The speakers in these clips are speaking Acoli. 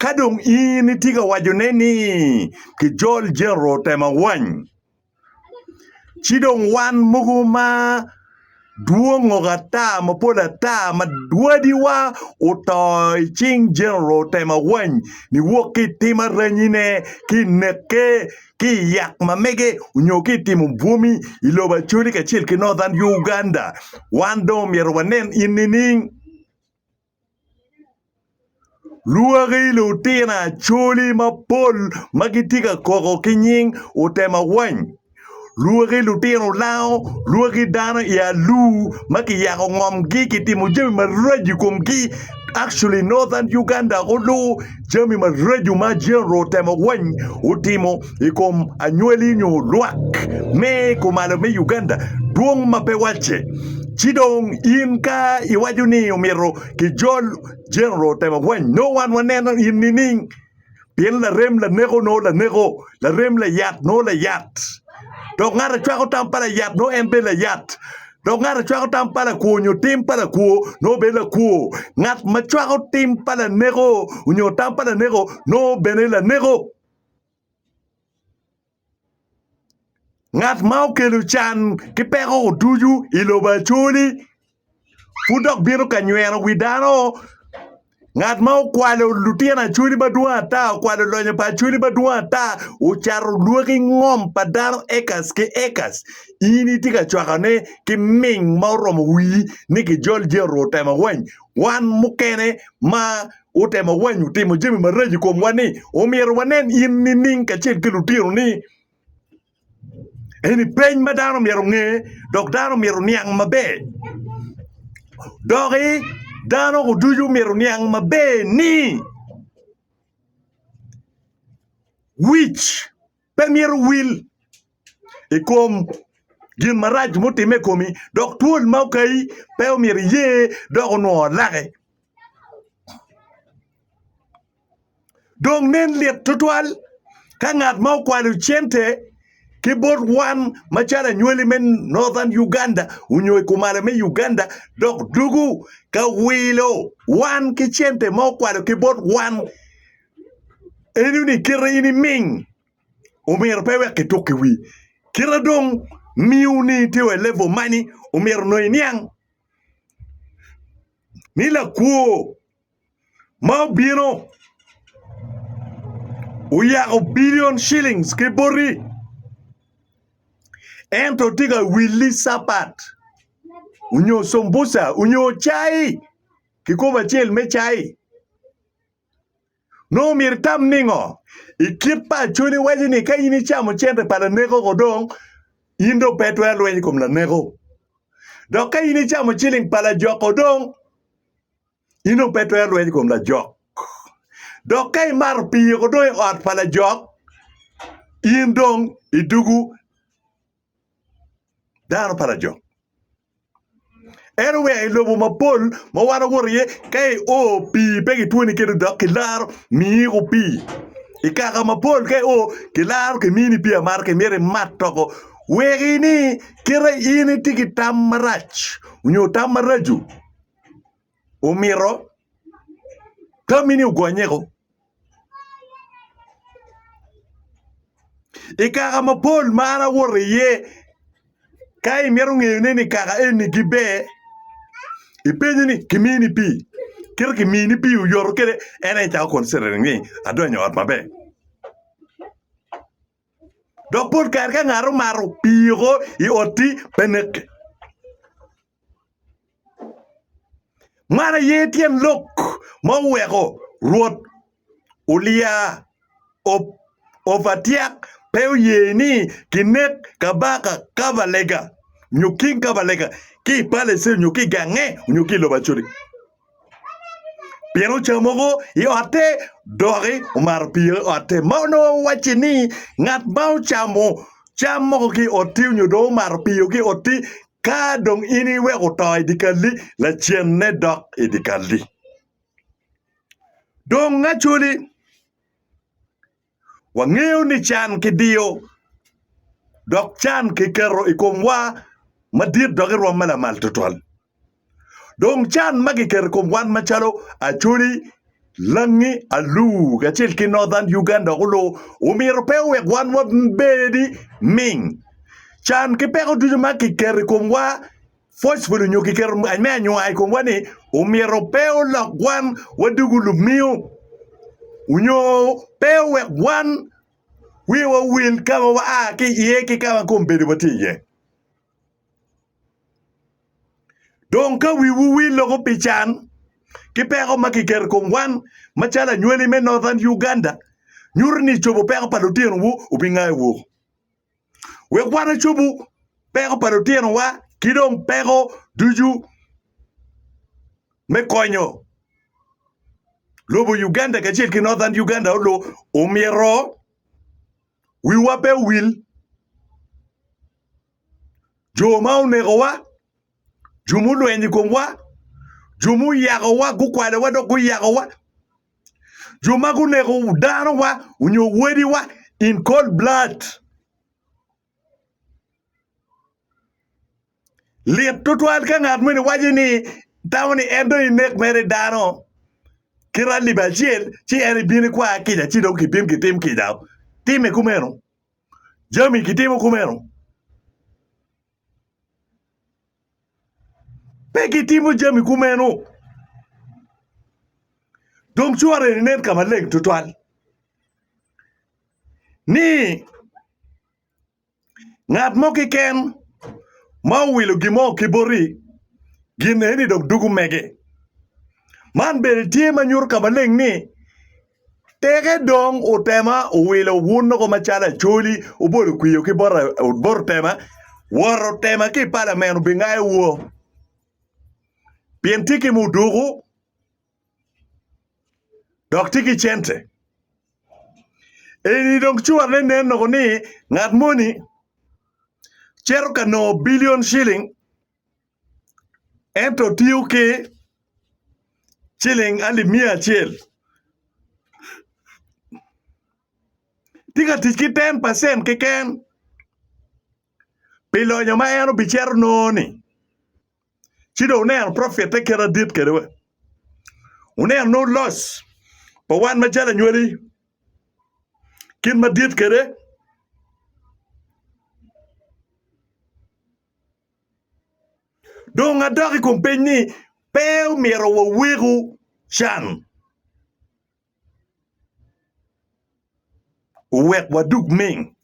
Ka dong in itye ka wacone ni kijol Jericho otema wany, ci dong wan mogo ma dwongo ata mapol ata ma wadiwa oto i cing Jericho otema wany, niwok ki i tim aranyine, ki i neke, ki i yat ma mege, nyo ki i timo bwomi i lobo Acholi kacel ki Northern Uganda. Wan dong myero wanen in nining? Lwaki lutino Acholi mapol ma gitye ka koko ki nying otemo awany, lwaki lutino lango, lwaki dano i alur ma kiyako ngomgi kitimo jami maraco i komgi actually northern Uganda olu Jami maraco ma Jehova otemo weny otimo i kom anywali nyo lwak me kumalo me Uganda dwong ma pe wacce. Ci dong in ka iwaco ni omyero kijol Jehova otemo weny, nongo wan waneno in nining? Pien larem laneko nongo laneko, larem layat nongo layat, dok ngat a cwako tam pa layat nongo en bene layat. Dok ngat a cwako tam pa lakwo nyo tim pa lakwo nongo bedo lakwo. Ngat ma cwako tim pa laneko nyo tam pa laneko nongo bene laneko. Ngat ma okelo can ki peko ducu i lobo acoli pud dok bino ka nyweno wi dano. Ngat ma okwalo lutino acholi madwong ata, okwalo lonyo pa acholi madwong ata, ocato lwaki ngom pa dano acres ki acres, in itye ka cwakone ki ming ma oromo wii ni kijol je oruu otemo awany. Wan mukene ma otemo awany otimo jami maraco i komwa ni omyero wanen in nining kacel ki lutinoni? Eni peny ma dano myero onge dok dano myero oniang maber doki dano ducu myero oniang maber ni wic pe myero owil i kom gin marac mutimme i komi dok twol ma okayi pe myero iye dok onongo laki. Dong nen lit tutwal ka ngat ma okwalo cente ki bot wan macalo anywali me Northern Uganda onyo i kumalo me Uganda dok dugu ka wilo wan ki cente ma okwalo ki bot wan eno ni kite in iming omyero pe wek kituk ki wii. Kite dong miyo ni itye wa i level mani omyero nongo iniang ni lakwo ma obino oyako billion shillings ki boti ento tye ka wili capat nyo cumbuca nyo cai kikopo acel me cai nongo myero itam ningo i kit paconi waco ni ka in icamo cente pa laneko ko dong in dong pe itwero lweny i kom laneko dok ka in icamo ciling pa lajoko dong In dong pe itwero rwenyo i kom lajok. Dok ka imato pii weko dong i ot pa lajok, in dong idugu dano pa lajok. Ento wek i lobo mapol ma wan wawoto iye, ka io pii pe kitwoni kene dok kilaro miyiko pii. I kaka mapol ka io kilaro kimini pii amata ki myero imat toko wek ini kite in itye ki tam marac nyo tam maraco. omito tammi ni ogonyeko. I kaka mapol ma an awoto iye ka imito ngeyone ni kaka eni giber, ipenyo ni kimini pi? Kit ma kimini pi oyoto kwede en aye icako concentrating ni adonyo i ot maber. Dok pol kare ka ngat omato pii oko i otti pe neke. Man aye tyen lok ma oweko Rwot Ulia Opatyak pe oye ni kinek Kabaka Kabalega nyo King Kabalega ki i palace nyo ki i gange nyo ki i lobo Acholi. pien oca mogo i otte doki omato pire i otte ma onongo wacci ni ngat ma ocamo cam mogo ki i otti nyo dong omato pire ki i otti ka dong in iweko oto i dye kalli lacenne dok i dye kalli dong Acholi. Wangeyo ni can kidiyo dok can kiketo i komwa madit dok i rwom me lamal tutwal. Dong can ma kiketo i kom wan macalo Acholi, Langi, Aluu kacel ki Northern Uganda dok olu omyero pe owek wan wabed ming. Can ki peko ducu ma kiketo i komwa Phosphate onyo kiketo me anyuaa i komwa ni omyero pe olok wan wadugu lumiyo onyo pe owek wan wiwa owil ka ma waa ki iye ki ka ma kombedowa tye iye. Dong ka wiwu wil loko pi can ki peko ma kiketo i kom wan macalo anywali me Northern Uganda, nyuto ni icobo peko pa litinowu obingayo woko. wek wan ocobu peko pa lutinowa ki dong peko ducu me konyo lobo Uganda kacel ki Northern Uganda olo, omyero wiwa pe owil jo ma onekowa. jo mulwenyo i komwa, jo muyakowa, gukwalowa dok guyakowa, jo ma guneko danowa nyo wadiwa in cold blood. Lit tutwal ka ngat moni waco ni tamo ni en dong inek mere i dano kite alip acel ci en ibino ikwaya kica ci dong kibin kitim kica. Timme kumeno, jami kitimo kumeno. Pe gitimo jami kumeno. Dong cwor eni nen ka maleng tutwal ni ngat mo keken ma owilo gin mo ki boti gin eni dok dugo mege. Man bene tye ma nyuto ka maleng ni Teke dong otema owilo wun loko macalo acholi, obolo kwiyo ki bota otema, woro otema ki i palamen obingayo wo. Pien tye ki muduku, dok tye ki cente. Eni dong curane nen loko ni ngat moni cito ka nongo bilion ciling. ento tiyo ki ciling alip miya acel tye ka tic ki ten pacen keken pi lonyo ma en obicito nongo-ni ci dong oneno pwofitte kit adit kwede wa oneno nongo loc pa wan macalo anywali kit madit kwede. Dong adok i kom peny ni, pe omyero waweku can owek wadug ming?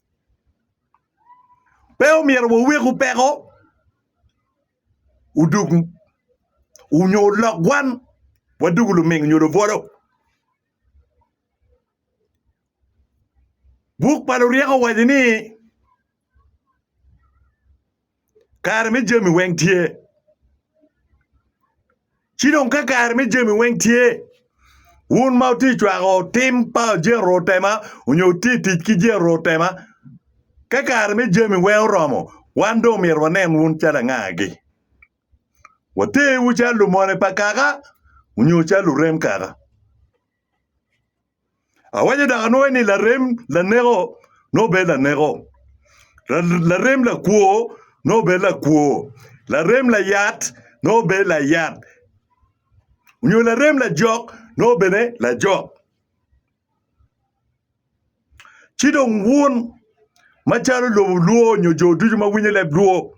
Pe omyero waweku peko odug nyo olok wan wadugu luming nyo lubwolo? Buk pa luryeko owaco ni. Kare me jami weng tye. Ci dong ka kare me jami weng tye, wun ma wutye ka cwako tim pa Jehovah otema nyo wutye ka tic ki Jehovah otema, ka kare me jami weng oromo, wan dong myero wanen wun calo angagi? Watewu calo lumone pa kaka nyo calo lurem kaka? Awaco dok anwoyo ni larem laneko nongo bedo laneko, larem lakwo nongo bedo lakwo, larem layat nongo bedo layat, nyo larem lajok nongo bene lajok. Ci dong wun macalo lubo lwor nyo jo ducu ma winyo leb lwor,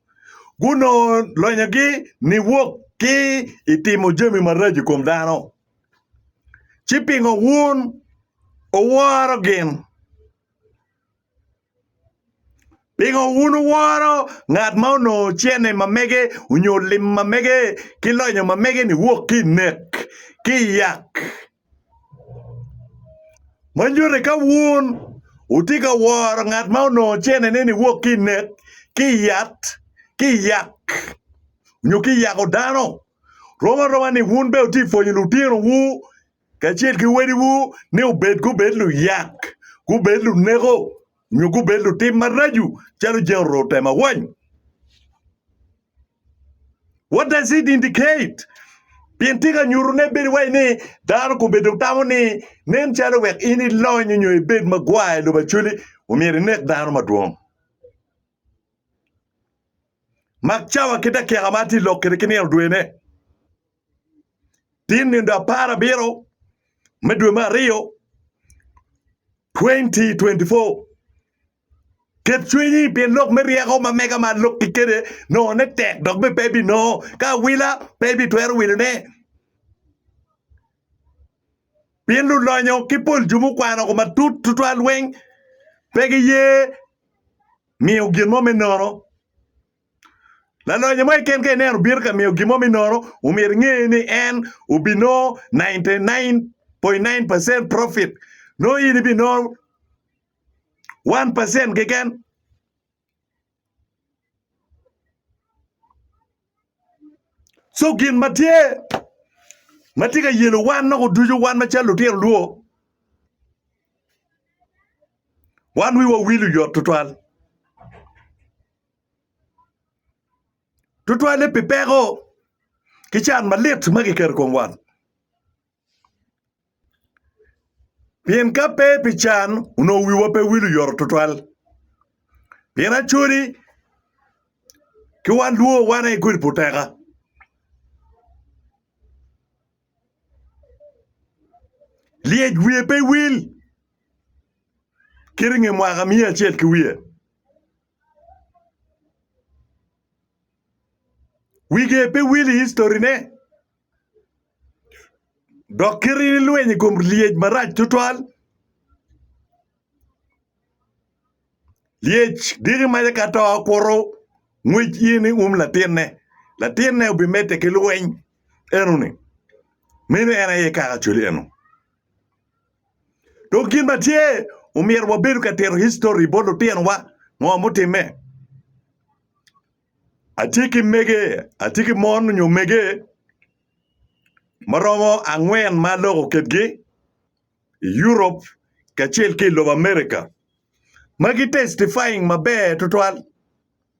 gunongo lonyogi niwok ki i timo jami maraco i kom dano. Ci pingo wun wuworo gin? Pingo wun wuworo ngat ma onongo cene ma mege nyo lim ma mege ki lonyo ma mege niwok ki i nek ki i yak? ma nyuto ni ka wun wutye ka woro ngat ma onongo cenene ni wok ki i nek ki i yat ki i yat nyo ki i yako dano rom aroma ni wun bene wutye ka pwonyo lutinowu kacel ki wadiwu ni gubed luyak gubed luneko. nyo gubed lutim maraco calo jang oruu otemo awany. What does it indicate? Pien tika nyuto ne bedo wai ni dano kobedo tamo ni nen calo wek in ilony nyo ibed magwar i lobo acoli omyero inek dano madwong. Mak cawa ki dakika ma atye lok kede ki nino dwene. Tye nindo apar abiro me dwe me aryo 2024. Ket cwinyi pi lok me ryeko ma mega ma alokki kede nongone tek dok bene pe ibinongo ka awila pe ibitwero wilone. Pien lulonyo ki pol jo mukwano ko matut tutwal weng pe giye miyo gin mo me nono. Lalonya mo keken ka ineno obino ka miyo gin mo me nono, omyero inge ni en obinongo 99.9% profit. Nongo in ibinongo 1% keken. Co gin ma tye ma tye ka yelo wan nok oducu wan macalo lutino lwo, wan wiwa wil oyot twatwal. tutwalle pi peko ki can malit ma kiketo i kom wat pien ka pe pi can onongo wiwa pe wilo oyoto tutwal pien acoli ki wan lwo wan aye kodi pu teka lyec wiye pe wil kit i nge mwaka miya acel ki wiye Wige pe wil i historine, dok kite ni lweny i kom lyec marac tutwal. Lyec diki mace ka to kuro ngwec in i um latinne. Latinne obimedde ki lweny eno-ni. Meno en aye kaka acwali eno. Dok gin ma tye, omyero wabedo ka tito histori bot lutinowa. Ngo mutimme? Atye ki mege, atye ki mon nyo mege ma romo angwen ma aloko kitgi i Europe kacel ki i lobo America ma gi testifying maber tutwal.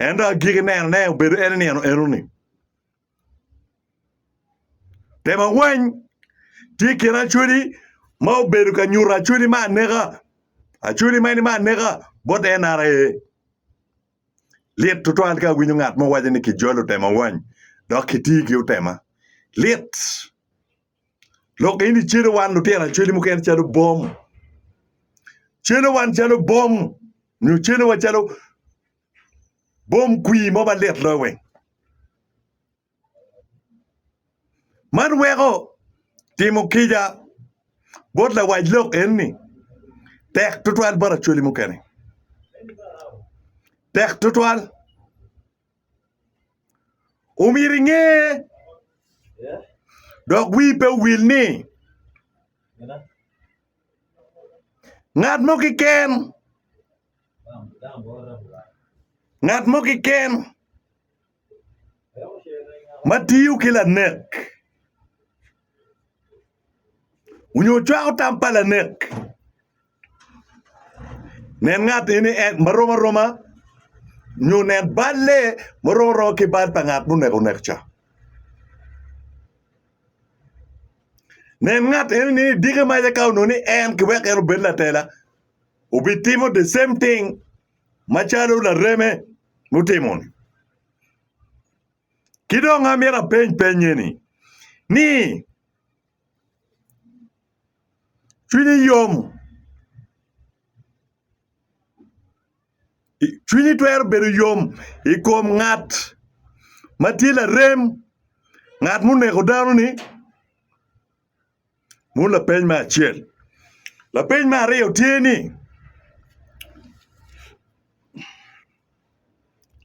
Ento agiki neno ne obedo en inino enoni. Temo awany tye kin acweli ma obedo ka nyuto acweli ma aneka. Acweli ma eni ma aneka bot NRA. Lit tutwal ka awinyo ngat mo waco ni kijolo temo awany dok kiti ki otema. Lit. Lok in icelo wan lutino acwali mukene calo bom. Celo wan calo bom nyo celowa calo bom kwii mo ma lit loyo weng. Man weko timo kica bot lawac lok enni tek tutwal bot acwali mukene. Tek tutwal. Omyero inge dok wii pe owil ni ngat mo keken ngat mo keken ma tiyo ki lanek onyo cwako tam pa lanek Nen ngat eni en ma rom aroma nyo nen bal lee ma rom aroma ki bal pa ngat ma oneko onek ca. Nen ngat eni ni idiki maca ka onongo ni en kiweko en obed latela obitimo the same thing macalo lareme mutimo-ni. Ki dong amito apeny peny eni ni. Cwinyi yom, cwinyi twero bedo yom i kom ngat ma tye larem, ngat ma oneko dano-ni? Meno lapeny me acel. Lapeny me aryo tye ni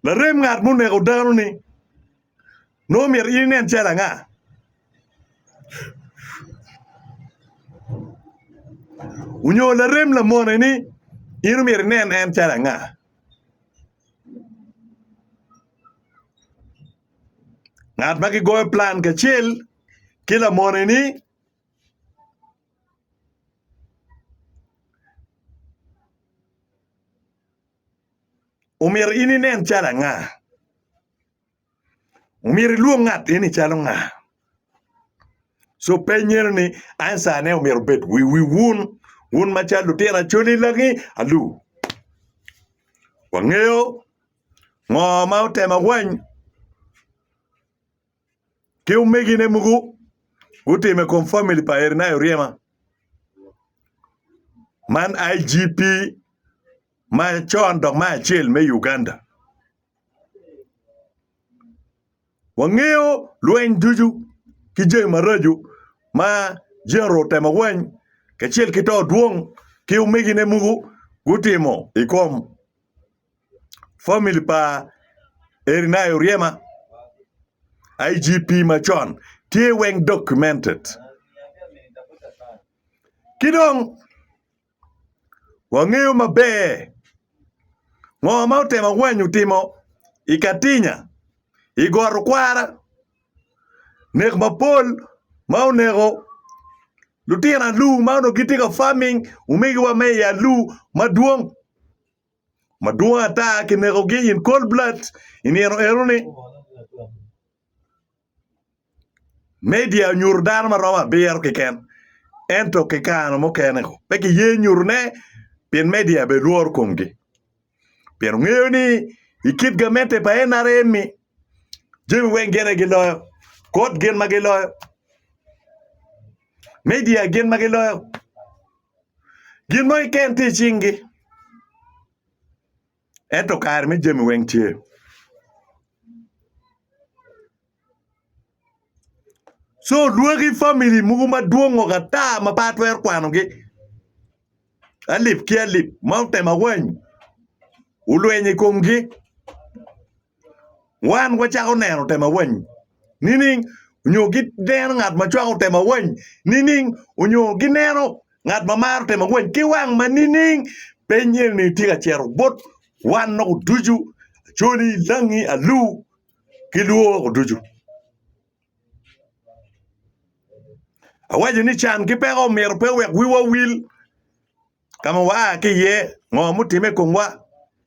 larem ngat ma oneko dano-ni? nongo omyero in inen calo anga? Onyo larem lamoneni in omyero inen en calo anga? Ngat ma kigoyo plan kacel ki lamoneni omyero in inen calo anga? Omyero ilwong ngat eni calo nga? So peny eno ni answer ne omyero obed wi wi wun wun ma cal lutino acoli langi alu. Wangeyo ngo ma otemo awany ki omegi ne mogo gutimo i kom family pa Erinayo Ryema man IGP ma con dok ma acel me Uganda. Wangeyo lweny ducu ki jami maraco ma Jehu otemo weny kacel ki to dwong ki omegine mogo gutimo i kom famili pa Erinia Oryema, IGP macon. Tye weng documented. Ki dong. Wangeyo maber ngo ma otemo awanyu timo i Katinya, i got Okwara, nek mapol ma oneko lutino alur ma onongo gitye ka farming omegiwa me i alur madwong, madwong ata kinekogi in cold blood i nino eno ni. Media onyuto dano ma romo abiro keken ento ki kare mukene pe kiye nyutone pien media bene lworo komgi pien ongeyo ni i kit gamente pa NRM-mi jami weng gin aye giloyo, kot gin ma giloyo, media gin ma giloyo gin mo keken tye i cingi. Ento kare me jami weng tye. Co lwaki famili mogo madwongo ata ma pe atwero kwanogi alip ki alip ma otema wany olwenyo i komgi. wan wacako neno tema weng nining? Onyo gineno ngat ma cwako tema weng nining? Onyo gineno ngat ma maro tema weng ki wang ma nining? Peny eni tye ka cito bot wan loko ducu, Acholi, Langi, Alur ki Luo woko ducu. Awaco ni can ki peko myero pe owek wiwa owil ka ma waa ki iye, ngo mutimme i komwa.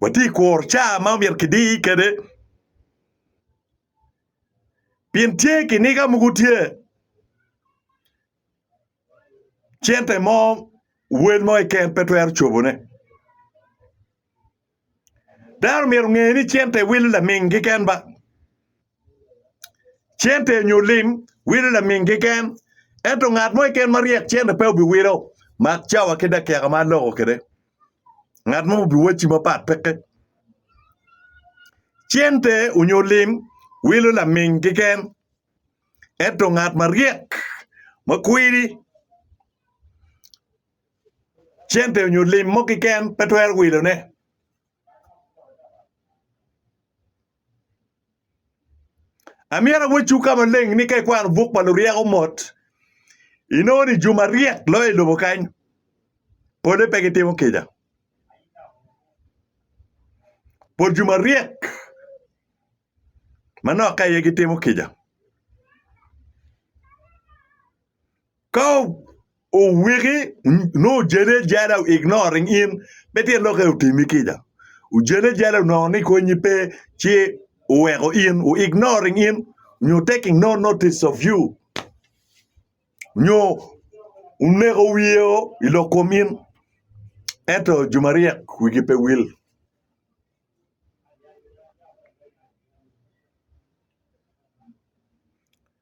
Watye ka kuro caa ma myero kidi kwede pien tye kiniga mogo tye cente mo wel mo keken pe twero cobone. Dano myero onge ni cente wilo laming keken ba. Cente nyo lim wilo laming keken ento ngat mo keken ma ryek cente pe obiwilo mak cawa ki dakika ma aloko kwede. Ngat mo obiwacci mapat peke. Cente onyo lim wilo laming keken ento ngat maryek ma kwiri cente onyo lim mo kiken pe twero wilo ne. Amyero awocu ka maleng ni ka ikwano buk pa luryeko mot inongo ni juma ryek loyo i lobo kany pole pe gitimo kica. Pol juma ryek manok ka iye gitimo kica. Ka owiki nongo ojene jada o ignoring in pe tyen lok aye otimi kica. Ojene jada onongo ni konyi pe ci oweko in o ignoring in nyo taking no notice of you nyo oneko wiye o i lok kom in ento jo maryek wigi pe wil.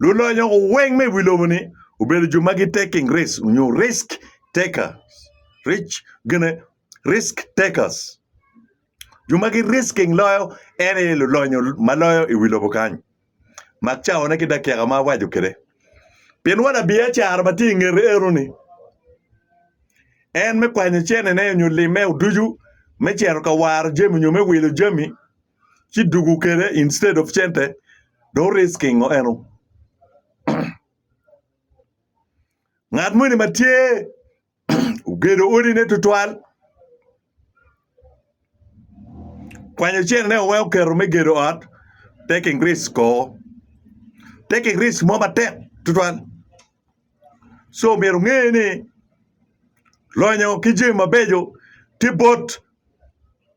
Lulonyo weng me i wi lobo-ni obedo jo ma giteking risk nyo risk taker gine risk takers jo ma gi risking loyo en aye lulonyo ma loyo i wi lobo kany mak cawone ki dakika ma awaco kwede pien wa labiacara ma tye i ngete eno-ni en me kwanyo cenene nyo limme ducu me cito ka waro jami nyo me wilo jami. ci dugu kede instead of cente do risking o eno ngat moni ma tye ogedo odine tutwal kwanyo cene ne oweko keto me gedo ot taking risk o taking risk mo matek tutwal so myero nge ni lonyo ki jami mabeco tye bot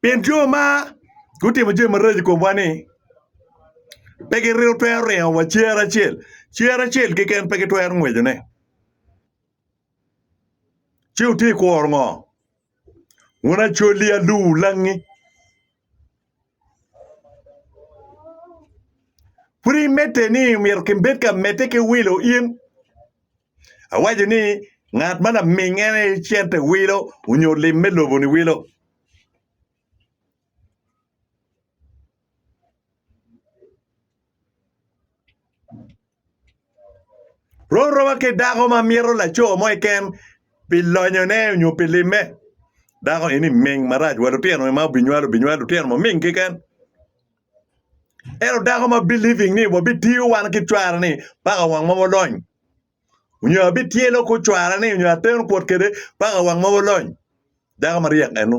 Pien jo ma gutimo jami maraco i komwa-ni pe gitwero ringo wa cer acel, cer acel keken pe gitwero ngwecone. Ci wutye ka kuro ngo? Wun acolli, alur, langi. Pud imedde ni omyero kibed ka medde ki wilo in? Awaco ni ngat ma laming en aye cente wilo onyo lim me lobo ni wilo. Rorowa ki dako ma mito laco mo keken pi lonyone nyo pi limme. Dako eni ming marac wa lutino ma obinywalo obinywalo lutino maming keken. Ento dako ma believing ni wabitiyo wan ki cware ni paka wang ma walony nyo abityelo ku cware ni nyo ateno kwot kede paka wang ma walony dako maryek eno.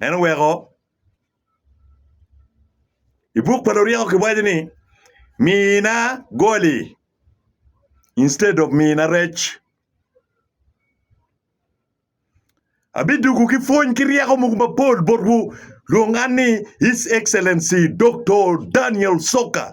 En oweko, I buk pa Luryeko kiwaco ni, Mina goli instead of mina rec. Abidwogo ki pwony ki ryeko mogo mapol botwu, lwong an ni His Excellency Doktor Daniel Soka.